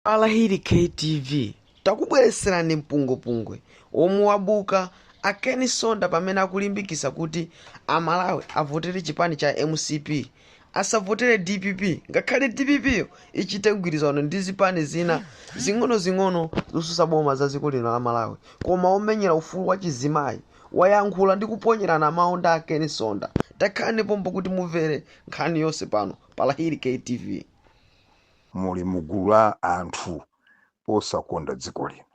Pa Lahiri KTV takubweretserani mpungwepungwe womwe wabuka a Ken Msonda pamene akulimbikitsa kuti a Malawi avotere chipani cha mcp asavotere dpp ngakhale dpp yo ichite mgwirizano ndi zipani zina zing'onozing'ono zotsutsa boma za dziko lino la Malawi koma womenyera ufulu wa chizimayi wayankhula ndi kuponyerana mawu ndi a Ken Msonda. Takhalani pompo kuti mumvere nkhani yonse pano pa Lahiri KTV. muli mu gulu la anthu osakonda dziko lino,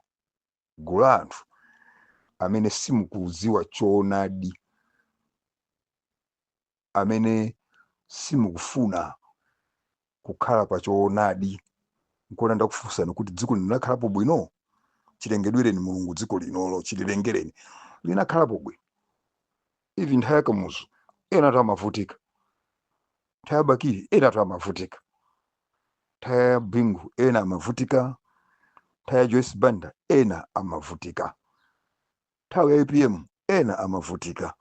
gulu la anthu amene simukudziwa choonadi, amene simukufuna kukhala pa choonadi. Nkona ndakufunsani kuti dziko lino linakhalapo bwino? Chilengedwereni Mulungu dziko linolo, chililengereni, linakhalapo bwino? ivi nthawi ya kamuzu ena anthu amavutika nthawi ya bakili ena anthu amavutika nthawi ya bingu ena amavutika nthawi ya joyce banda ena amavutika nthawi ya apm ena amavutika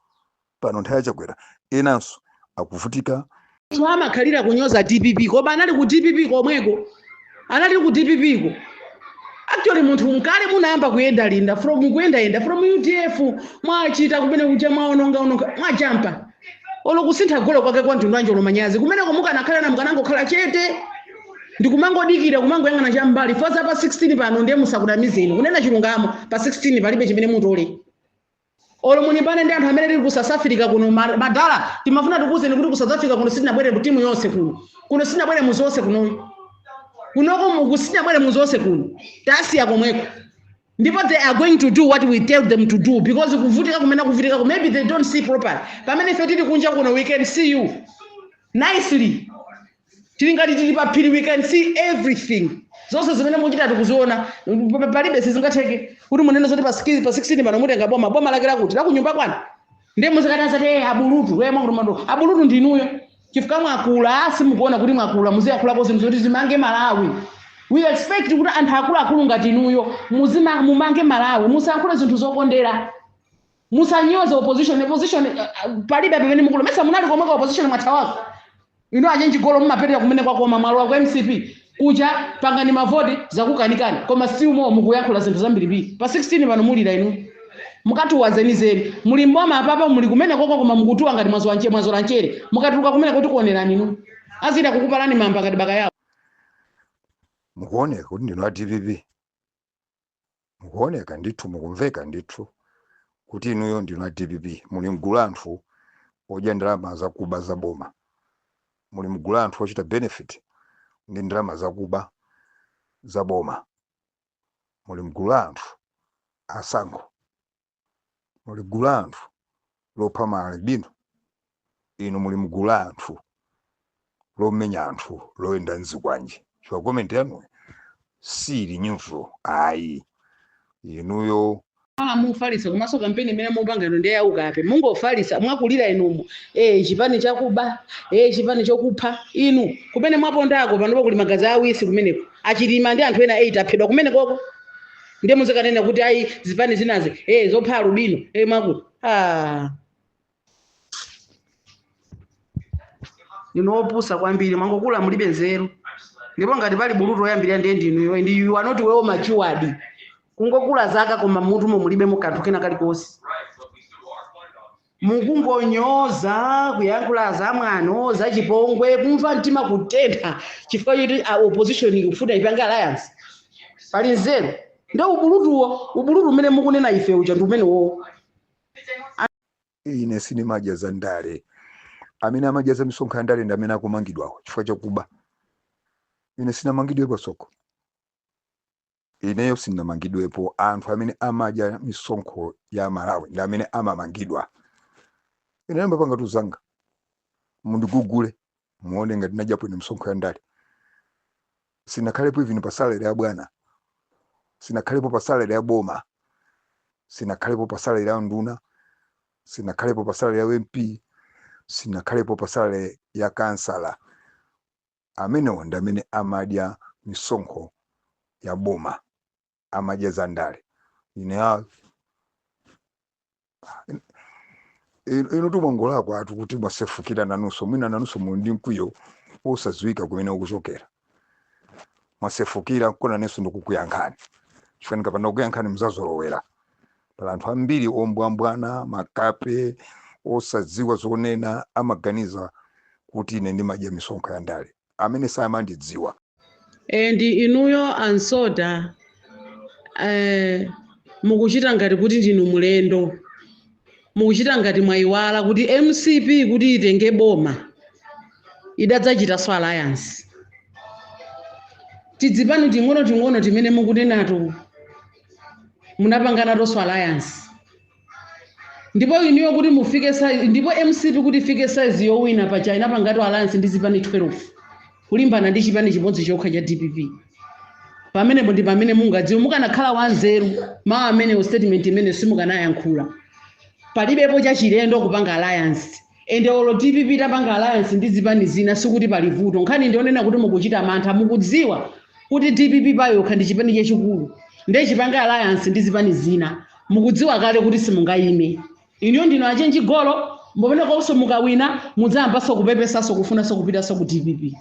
pano nthawi ya chakwera enanso akuvutika so amakhalira kunyoza dpp koma anali ku dpp komweko anali ku dpp ko actually inu ndi kale munayamba kuyendayenda from kuyendayenda from udf mwachita kumene kuja mwaonongaononga mwajampa olo kusintha golo kwake kwa mtundu wanji olo manyazi kumeneko mukanakhala na mukanangokhala chete ndikumangodikira kumangoyang'ana cham'mbali chifukwa pa 16 pano ndiye asakunamizeni kunena chilungamo pa 16 palibe chimene mutole Olo mulimbane ndi anthu amene tili ku South Africa kuno ma- madala timafuna tikuwuzeni kuti ku South Africa kuno sitinabwere mu timu yonse kuno. Kuno sitinabwere mudzi wonse kunoyi. Kunoko mu- sitinabwere mudzi wonse kuno. Tasiya komweko. Ndipo they are going to do what we tell them to do because kuvutika kumene kuvutika ku maybe they don't see properly. Pamene ife tili kunja kuno we can see you nicely. tili ngati tili pa phiri we can see everything zonse zimene muchita tikuziona pa- pa- palibe sizingatheke kuti munene zoti pa 16 pa 16 pano mutenga boma boma lake lakuti lakunyumba kwanu ndiye muzikati asati "Eh, abulutu we mwakuti mwato abulutu ndinuyo chifukwa mwakula asi mukuona kuti mwakula muziyankhulako zinthu zoti zimange malawi we expect kuti anthu akuluakulu ngati inuyo muzima- mumange malawi musayankhule zinthu zokondera musanyoze opposition opposition uh, uh, palibe pamene mukulu mesa munali komweko ku opposition mwathawako inu achenji golo mumapitira kumene kwakoma mwalowa ku mcp kuja pangani mavoti zakukanikani koma si umo mukuyankhula zinthu zambirimbiri pa 16 pano mulira inu mukatuwa zenizeni muli mboma apapa muli kumene koko koma mukutuwa ngati mwazola nchere mwazola nchere mukatuluka kumene kuti kuonerani inu azidzakupalani mamba ngati bakayawo mukuoneka kuti ndinu a dpp mukuoneka ndithu mukumveka ndithu kuti inuyo ndinu a dpp muli mgulu la anthu odya ndalama zakuba za boma muli mgulu la anthu ochita benefit ndi ndalama zakuba za boma muli mgulu la anthu asankho muli mgulu la anthu lopha ma albino inu muli mgulu la anthu lomenya anthu loyenda nzikwanje chifukwa comment yanuyo siili neutral ayi inuyo Ah, mufalitsa komanso kampeni imene mupanga ino ndiye yaukape mungofalitsa mwakulira inumo eh chipani chakuba eh chipani chokupha inu kumene mwapondako panopo kuli magazi awisi kumeneko achilima ndi anthu ena 8 aphedwa kumenekoko ndiye muzikanena kuti ayi zipani zinazi eh zopha alubino eh mwakuti ah ndinu opusa kwambiri mwangokula mulibe nzeru ndipo ngati pali bulutu oyambirira ndiye ndinuyo and you are not well matured kungokula zaka koma mmutumo mulibemo kanthu kena kalikonse Mukungonyoza, kuyankhula zamwano, zachipongwe, kumva mtima kutentha chifukwa choti opposition ikufuna ipange alliance. Pali nzeru. Ndio ubulutuwo, ubulutu umene mukunena ife uja ndi umenewowo. Ine sinimadya za ndale. Amene amadya za misonkho ya ndale ndi amene akumangidwawo chifukwa chakuba. Ine sinamangidwe po so go. Ineyo sinamangidwepo, anthu amene amadya misonkho ya Amalawi ndi amene amamangidwa. Ineyo n'napanga tizanga, mundigugule muone ngati ndinadyapo ine misonkho ya ndale. Sinakhalepo even pa salary ya bwana, sinakhalepo pa salary ya boma, sinakhalepo pa salary ya nduna, sinakhalepo pa salary ya MP, sinakhalepo pa salary ya kansala. Amenewo ndi amene amadya misonkho ya boma, amadya za ndale. Ine a inu mwangolakwatu kuti mwasefukira nanunso, mwina nanunso muli ndi mkwiyo wosadziwika kumene ukuchokera. Mwasefukira nkona nanenso ndikukuyankhani, chifukwa ndikapanda kukuyankhani muzazolowera. Pali anthu ambiri ombwambwana, makape, osadziwa zonena amaganiza kuti ine ndimadya misonkho ya ndale amene samandidziwa. And inuyo a Nsota mukuchita ngati kuti ndinu mlendo, mukuchita ngati mwayiwala kuti mcp kuti itenge boma idadzachitanso alliance. Tizipani ting'onoting'ono timene mukunenato. munapangana Tonse alliance ndipo inuyo kuti mufike ndipo mcp kuti ifike size yowina pa china panganso alliance ndi zipani 12 kulimbana ndi chipani chimodzi chokha cha dpp pamenepo ndi pamene mungadziwe mukanakhala wanzeru mawu amenewo statement imene simukanayankhula palibepo chachilendo kupanga alliance ende olo dpp tapanga alliance ndi zipani zina sikuti pali vuto nkhani ndi yonena kuti mukuchita mantha mukudziwa kuti dpp payokha ndi chipani chachikulu ndiye chipange alliance ndi zipani zina mukudziwa kale kuti simungayime inuyo ndinu achenji golo pomwe panonso mukawina mudzayambanso kupepesanso kufunanso kupitanso ku dpp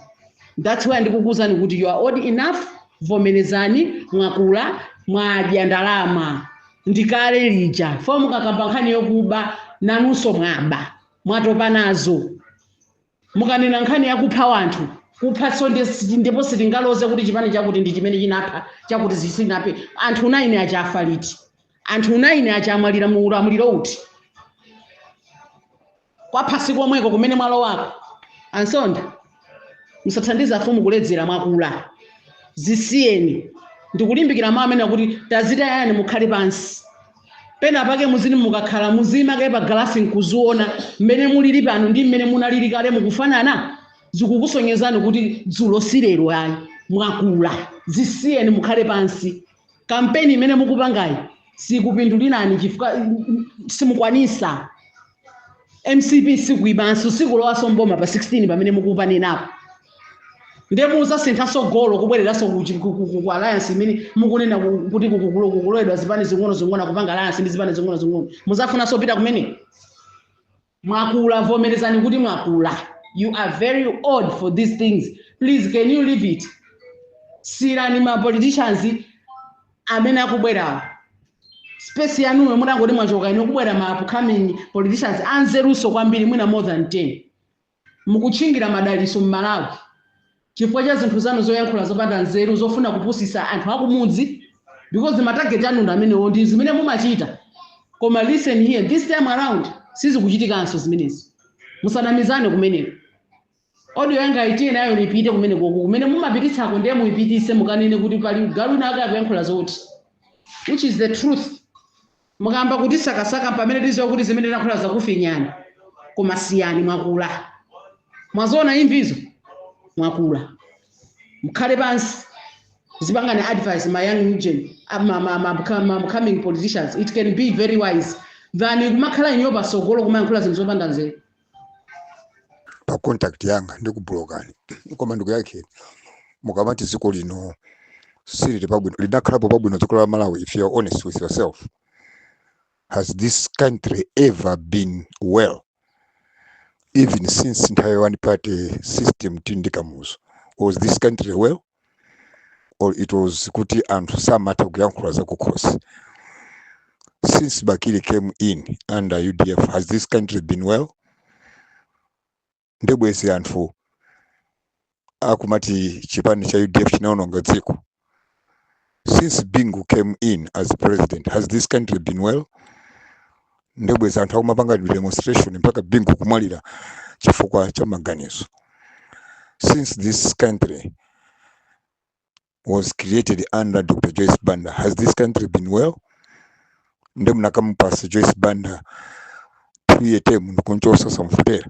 that's why ndikukuuzani kuti you are old enough vomerezani mwakula mwadya ndalama ndi kale lija fo mukakamba nkhani yokuba nanunso mwaba mwatopa nazo mukanena nkhani yakupha wanthu kuphanso ndi- ndipo sitingaloze kuti chipani chakuti ndi chimene chinapha chakuti sichinaphe anthu naini aja afa liti anthu naini aja amwalira mu ulamuliro uti kwa phasi komweko kumene mwalowako ansonda musathandiza afumu kuledzera mwakula zisiyeni ndikulimbikira mawu amene kuti tazitayeni mukhale pansi pena pake muzini mukakhala muziima kaye pa galasi nkuziona mmene mulili pano ndi mmene munalili kale mukufanana zikukusonyezani kuti dzulo si lero ayi mwakula zisiyeni mukhale pansi kampeni imene mukupangayi sikupindulirani chifukwa mm, simukwanisa mcp sikuibanso sikulowanso mboma pa 16 pamene mukupanenapo nde muzasinthanso golo kubwereranso ku chi- ku- ku- ku- ku alliance imene mukunena ku- kuti ku- ku- ku- kukuloledwa zipani zing'ono zing'ono kupanga alliance ndi zipani zing'ono zing'ono muzafunanso pita kumene Mwakula vomerezani kuti mwakula you are very old for these things please can you leave it siyirani ma politicians amene akubwerawo space yanuyo mutangoti mwachoka inuyo kubwera ma upcoming politicians anzeruso kwambiri mwina more than 10 mukutchingira madalitso mmalawi chifukwa cha zinthu zanu zoyankhula zopanda nzeru zofuna kupusisa anthu akumudzi because ma target anu ndi amenewo ndi zimene mumachita koma listen here this time around sizikuchitikanso zimenezi musanamizane kumeneko audio yanga tiye nayo ipite kumene koko kumene mumapititsako ndiye muipitise mukanene kuti pali galu winawake akuyankhula zoti which is the truth Mukayamba kutisakasaka mpamene tiziwa kuti zimene tinalankhula zakufinyani koma siyani mwakula mwaziona imvizo mwakula mkhale pansi muzipanga advise ma young gen ma ma ma ma coming politicians it can be very wise than kumakhala inuyo pasogolo kumayankhula zinthu zopanda nzeru. pa contact yanga ndikubulokani koma ndikuyankheni mukamati dziko lino silili pabwino linakhalapo pabwino dziko la malawi if you're honest with yourself has this country ever been well even since nthawi one party system tili ndi kamuzu was this country well or it was kuti anthu samatha kuyankhula zakukhosi since bakili came in under udf has this country been well ndebwezi anthu akumati chipani cha udf chinaononga dziko since bingu came in as president has this country been well ndebwezi anthu akumapanga tidemonstration mpaka bingu kumwalira chifukwa cha maganizo since this country was created under dr joyce banda has this country been well nde munakamupasa joyce banda two year term ndikunchosa osamuvotera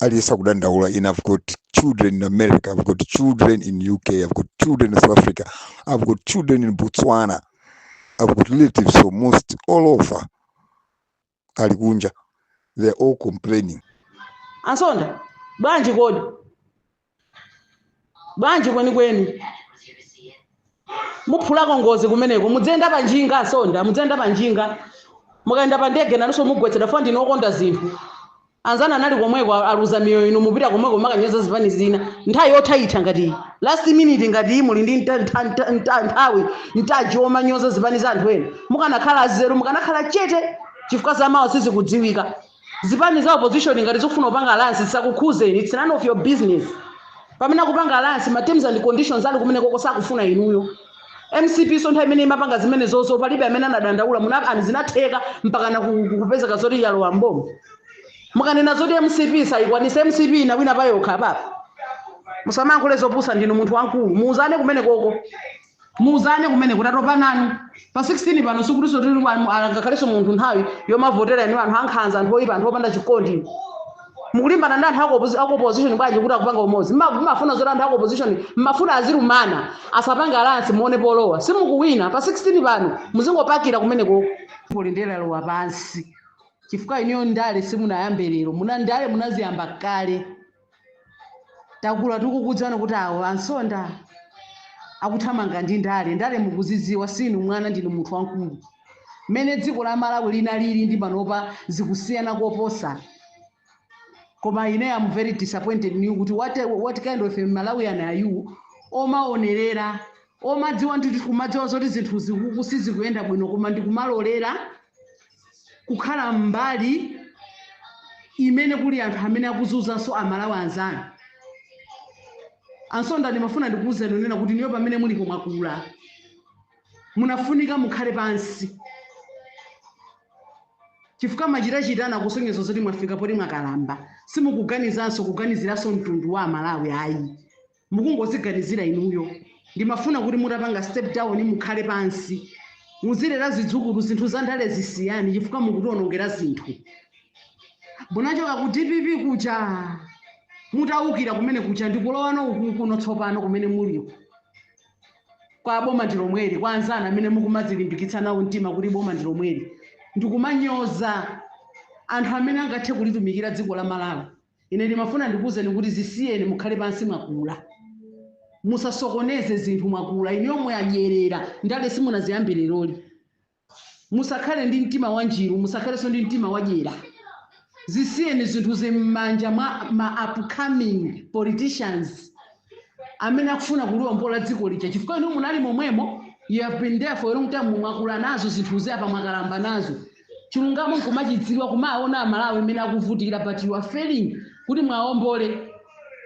aliyense akudandaula ine i've got children in america i've got children in uk i've got children in south africa i've got children in botswana i've got relatives from most all over ali kunja they're all complaining ansonda bwanji kodi bwanji kwenikweni muphulako ngozi kumeneko mudziyenda pa njinga a msonda mudziyenda pa njinga mukayenda pa ndege nanso mugwetsedwa for ndinu okonda zinthu anzanu anali komweko aluza miyoyo inu mupita komweko kumakanyoza zipani zina nthawi yothaitha ngati iyi last minute ngati iyi muli ndi nta- nta- nta- nta- nthawi yanji yomanyoza zipani za anthu ena mukanakhala anzeru mukanakhala chete chifukwa za mawa sizikudziwika Zipani za opposition ngati zikufuna kupanga alliance zisakukhuzeni, it's none of your business. Pamene akupanga alliance ma terms and conditions ali kumenekoko sakufuna inuyo. mcp nso nthawi imene imapanga zimenezozo palibe amene anadandaula muna and zinatheka mpaka na ku- ku- kupezeka zoti yalowa mboma mukanena zoti mcp sayikwanisa mcp inawina payokha papa musamayankhule zopusa ndinu munthu wamkulu muuzane kumenekoko muuzane kumeneko tatopa nanu pa 16 pano sikutinso tili mu- ah, ngakhalenso munthu nthawi yomavotera ndi anthu ankhanza anthu oyipa anthu opanda chikondi mukulimbana ndi anthu ako- ako opposition bwanji kuti akupanga umodzi Mma- mmafuna zoti anthu ako opposition mmafuna azilumana asapange alliance muone polowa simukuwina pa 16 pano muzingopakira kumeneko ulendo walowa pansi chifukwa inuyo ndale simunayambe lero muna ndale munaziyamba kale takula tikukudziwani kuti awo a msonda akuthamanga ndi ndale ndale mukuziziwa sinu mwana ndinu munthu wamkulu mmene dziko la malawi linalili ndi panopa zikusiyana koposa koma ine am very disappointed in you kuti what, what kind of a malawian are you omaonerera omadziwa ndithu kumadziwa zoti zinthu zikuku sizikuyenda bwino koma ndikumalolera kukhala mbali imene kuli anthu amene akuzunzanso amalawi anzanu ansonda ndimafuna ndikuwuzeni kunena kuti inuyo pamene mulipo mwakula munafunika mukhale pansi chifukwa machitachita anu akusonyeza zoti mwafika poti mwakalamba simukuganizanso kuganiziranso mtundu wa amalawi ayi mukungoziganizira inuyo ndimafuna kuti mutapanga step down mukhale pansi muzilera zidzukulu zinthu za ndale zisiyeni chifukwa mukutionongera zinthu munachoka ku dpp kuja mutaukira kumene kuja ndikulowanso uku kuno tsopano kumene muliko kwa boma ndi lomweli kwa anzanu amene mukumazilimbikitsa nawo mtima kuti boma ndi lomweli ndikumanyoza anthu amene angathe kulitumikira dziko la malawi Ine ndimafuna ndikuuzeni kuti zisiyeni mukhale pansi mwakula. Musasokoneze zinthu mwakula. Inuyo mwadyerera ndale simunaziyambe leroli. Musakhale ndi mtima wanjiru, musakhalenso ndi mtima wadyera. Zisiyeni zinthuzi m'manja mwa ma upcoming politicians amene akufuna kuliwombola dziko lija chifukwa inuyo munali momwemo. You have been there for a long time, mwakula nazo zinthuzi apa mwakalamba nazo. chilungamo mkumachidziwa kumaona amalawi mmene akuvutikira but you are failing kuti mwaombole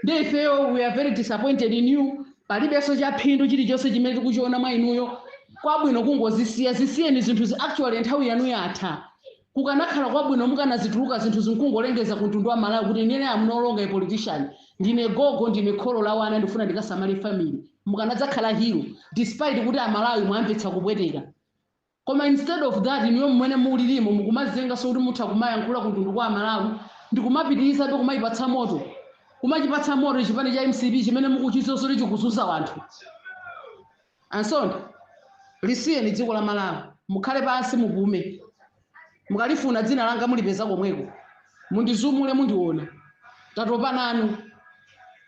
nde ifeyo we are very disappointed in you palibenso chaphindu chilichonse chimene tikuchiona mwa inuyo kwabwino kungozisiya zisiyeni zinthuzi actually nthawi yanu yatha kukanakhala kwabwino mukanazituluka zinthuzi nkungolengeza ku mtundu wa amalawi kuti inene am no longer a politician ndine gogo ndine kholo la wana ndifuna ndikasamale family mukanadzakhala hero despite kuti amalawi mwawamvetsa kupweteka Koma instead of that inuyo mmene mulilimo mukumazinyengaso kuti mutha kumayankhula kuntundu wa amalawi ndikumapitilizabe kumayipatsa moto, kumachipatsa moto chipani cha mcp chimene mukuchiziwa zoti chikuzuza wanthu ansonda. Lisiyeni dziko la malawi mukhale pansi mupume mukalifuna dzina langa mulipeza komweko mundizumule mundiona tatopa nanu.